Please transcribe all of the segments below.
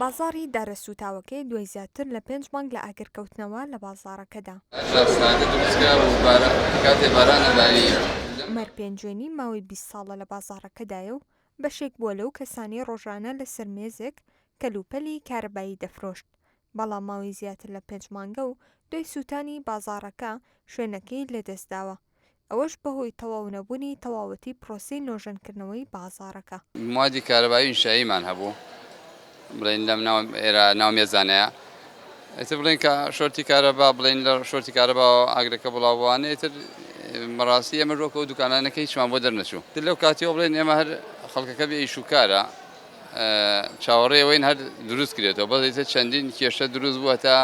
بازاڕی دارە سووتاوەکەی دوای زیاتر لە پێنج مانگ لە ئاگرکەوتنەوە لە بازاڕەکەدا، عومەر پێنجوێنی ماوەی بیست ساڵە لە بازاڕەکەدایە و بەشێک بووە لەو کەسانەی ڕۆژانە لەسەر مێزێک کەلوپەلی کارەبایی دەفرۆشت، بەڵام ماوەی زیاتر لە پێنج مانگە و دوای سووتانی بازاڕەکە شوێنەکەی لەدەستداوە. ئەوەش بەهۆی تەواو نەبونی تەواوەتی پرۆسەی نۆژەنکردنەوەی بازاڕەکە. موادی کارەبایی و ئینشاییمان هەبوو بڵێین لەم ناو ئێرە ناو مێزانەیە ئیتر بڵێین کە شۆرتی کارەبا بڵێین لە شۆرتی کارەباوە ئاگرەکە بڵاو بوانە ئیتر بەڕاستی ئێمەش وەکو ئەو دوکانانەکە هیچمان بۆ دەرنەچوو تر لەو کاتیەوە بڵێین ئێمە هەر خەڵکەکە بێ ئیش و کارە چاوەڕێی ئەوەین هەر دروست کرێتەوە بەس ئیتر چەندین کێشە دروست بوو هەتا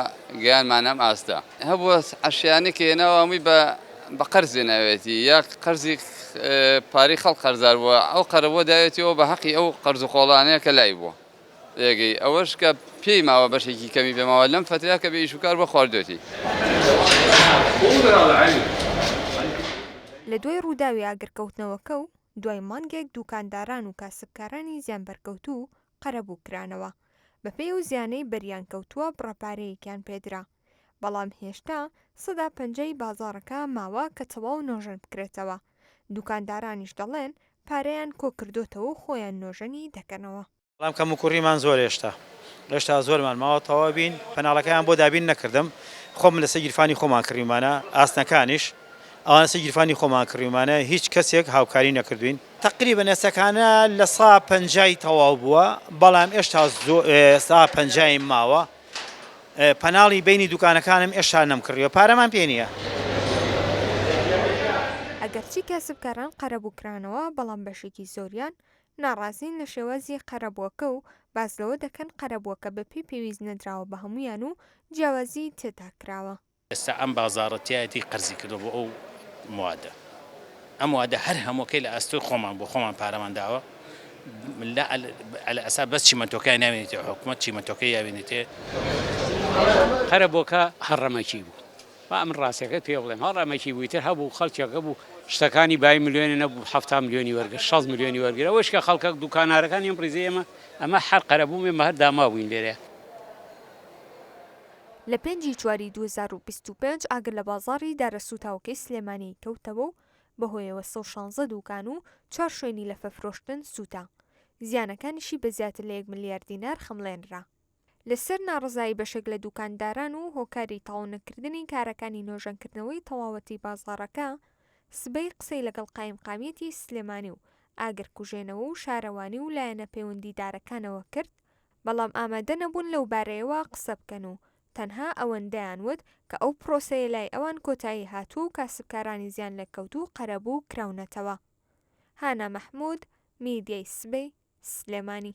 گەیانمان ئەم ئاستە. هەبووە عەشیانەی کە هێناوە هەمووی بە بە قەرز هێناویەتی یا قەرزی پارەی خەڵک قەرزار بووە ئەو قەرەبووە داوێتیەوە بە هەقی ئەو قەرز و قۆڵانەیە کە لای بووە ئێگەی ئەوەش کە پێی ماوە بەشێکی کەمی پێ ماوە لەم فەترەیە کە بێ ئیش و کار بووە خواردوێتی. لە دوای ڕووداوی ئاگرکەوتنەوەکە و دوای مانگێک دووکانداران و کاسبکارانی زیانبەرکەوتوو قەرەبوو کرانەوە، بەپێی ئەو زیانەی بەریان کەوتووە بڕە پارەیەکیان پێدرا، بەڵام هێشتا سەدا پەنجا ی بازاڕەکە ماوە کە تەواو نۆژەن بکرێتەوە، دووکاندارانیش دەڵێن پارەیان کۆکردۆتەوەو خۆیان نۆژەنی دەکەنەوە. بەڵام کەموکوڕیمان زۆرە هێشتا، هێشتا زۆرمان ماوە تەواو بین، کەناڵەکەیان بۆ دابین نەکردم، خۆم لەسەر گیرفانی خۆمان کڕیومانە، ئاسنەکانیش ئەوان لەسەر گیرفانی خۆمان کڕیومانە، هیچ کەسێک هاوکاری نەکردووین. تەقریبەن ئێستەکانە لە سا پەنجای تەواو بووە، بەڵام ئێشتا سا پەنجایم ماوە، پەناڵی بەینی دوکانەکانم ئێشتا نەمکڕیوە، پارەمان پێ نییە. ئەگەرچی کاسبکاران قەرەبوو کرانەوە، بەڵام بەشێکی زۆریان ناڕازین لە شێوازی قەرەبووەکە و باس لەوە دەکەن قەرەبووەکە بەپێی پێویست نەدراوە بە هەموویان و جیاوازیی تێدا کراوە. ئێستا ئەم بازاڕە تیایەتی قەرزیکردووە بۆ ئەو موادە. ئەم موادە هەر هەمووەکەی لە ئەستۆی خۆمان بووە، خۆمان پارەمان داوە. لە عەلی ئەسا بەس چیمەنتۆکەیان ناوێنێتێ و حکومەت چیمەنتۆکەی یاوێنێتێ. قەرەبووەکە هەڕەمەکی بوو، با من ڕاستیەکەت پێ بڵێم هەڵ ئەمەکی بوی تر هەبوو خەڵکێکە بوو شتەکانی بای ملیۆنێ نەبوو حەفتا ملیۆنی وەرگرت شەست ملیۆنی وەرگر ئەوەش کە خەڵکەک دوکانارەکانی ئەم ڕیزەی ئێمە ئەمە هەر قەرەبوو ئێمە هەر دامابووین لێرە. لە پێنج ی چواری دوو هەزار و بیست و پێنج ئاگر لە بازاڕی دارە سووتاوەکەی سلێمانی کەوتەوە و بەهۆیەوە سەد و شانزە دووکان و چوار شوێنی لەفەفرۆشتن سووتا، زیانەکانیشی بە زیاتر لە یەک ملیار دینار خەمڵێنرا. لەسەر ناڕەزایی بەشێک لە دووکانداران و هۆکاری تەواونەکردنی کارەکانی نۆژەنکردنەوەی تەواوەتی بازاڕەکە، سبەی قسەی لەگەڵ قایمقامیەتی سلێمانی و ئاگرکوژێنەوە و شارەوانی و لایەنە پەیوەندیدارەکانەوە کرد، بەڵام ئامادە نەبوون لەوبارەیەوە قسە بکەن و تەنها ئەوەندەیان وت کە ئەو پرۆسەیە لای ئەوان کۆتایی هاتووە و کاسبکارانی زیانلێکەوتوو قەرەبوو کراونەتەوە. هانا مەحمود، میدیای سبەی، سلێمانی.